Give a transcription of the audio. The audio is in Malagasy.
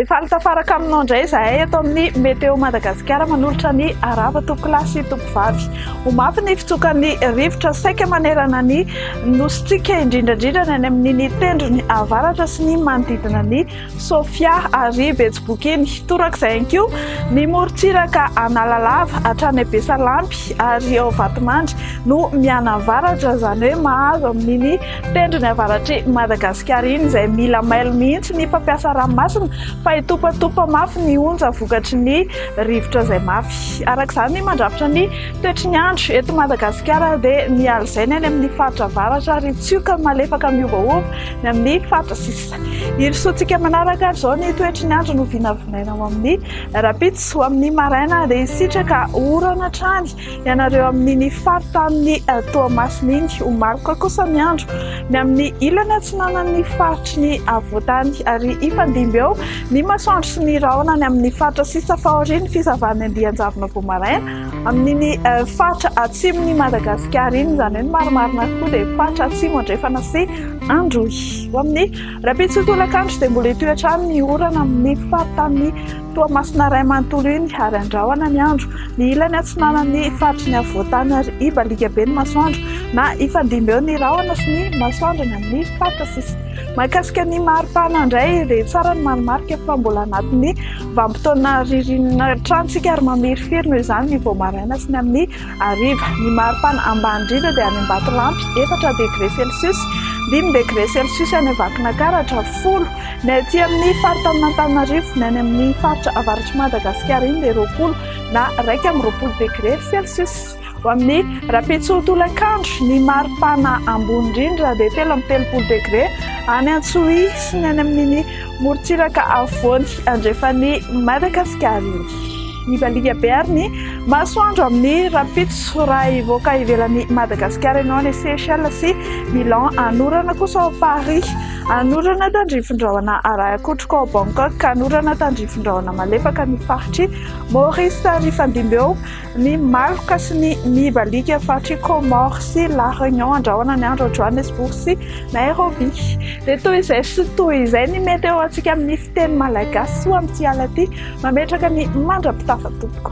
Efa alo tafaraka aminao indray izahay eto amin'ny Météo Madagasikara manolotra ny arava tompokolahy sy tompovavy. Ho mafy ny fitsokan'ny rivotra saika manerana ny nosintsika indrindra indrindra ny any amin'ny tendrony avaratra sy ny manodidina ny Sofia ary Betsibokiny. Torak'izay ihany koa ny morontsiraka Analalava hatrany Besalampy ary ao Vatomandry no mianavaratra, izany hoe mahazo amin'iny tendrony avaratr'i Madagasikara iny, izay mila mailo mihitsy ny mpampiasa ranomasina fa hitopatopa mafy ny onja vokatry ny rivotra izay mafy. Araka izany, mandrafitra ny toetry ny andro eto Madagasikara dia ny alizaina any amin'ny faritra avaratra ary tsioka malefaka miovaova ny amin'ny faritra sisiny. Hirosoantsika manaraka ary izao ny toetry ny andro no vinavinaina ho amin'ny rahampitso ho amin'ny maraina dia hisitraka orana hatrany ianareo amin'ny ny faritanin'ny eh, Toamasina iny ho maroka kosa ny andro ny amin'ny ilany atsinanan'ny faritry ny avoatany ary hifandimby eo ny masoandro sy ny rahona ny amin'ny faritra sisa fahorian'ny fizavan'ny andian-javona vao maraina amin'ny ny eh, faritra atsimon'i Madagasikara iny izany hoe ny marimarina koa dia faritra atsimo andrefana sy androy Ho amin'ny rahampitso tolakandro dia mbola hitohy hatrany ny orana amin'ny faritanin'ny Toamasina iray manontolo iny ary handrahona ny andro ny ilany atsinanan'ny faritry ny afovoantany ary hibaliaka be ny masoandro na hifandimby eo ny rahona sy ny masoandro ny amin'ny faritra sisa. Mahakasika ny maripana indray dia tsara ny marimarika fa mbola anatin'ny vanim-potoana ririnina hatrany isika ary mamirifiry noho izany ny vao maraina sy ny amin'ny hariva. Ny maripana ambany indrindra dia any Ambatolampy, efatra degre celsius, dimy degre celsius any Vakinankaratra, folo ny aty amin'ny faritanin'Antananarivo, ny any amin'ny faritra avaratr'i Madagasikara iny dia roapolo na iraika amby roapolo degre celsius. Ho amin'ny rahampitso tolakandro, ny maripana ambony indrindra dia telo amby telopolo degre any Antsohihy sy ny any amin'iny morontsiraka afovoany andrefan'i Madagasikara iny. Mivaliha be ary ny masoandro amin'ny rahampitso raha hivoaka ivelan'i Madagasikara ianao any Seychelles sy Milan hanorana kosa ao Paris, hanorana tandrifin-drahona Arahakotroka ao Bangkok, hanorana tandrifin-drahona malefaka ny faritr'i Maurice ary hifandimby eo ny maloka sy ny mibaliaka faritr'i Comores sy La Réunion handrahona ny andro ao Johannesburg sy Nairobi. Dia toy izay sy toy izay ny meteo ho antsika amin'ny. Teny malagasy soa amin'ity ala ity, mametraka ny mandra-pitafa tompoko.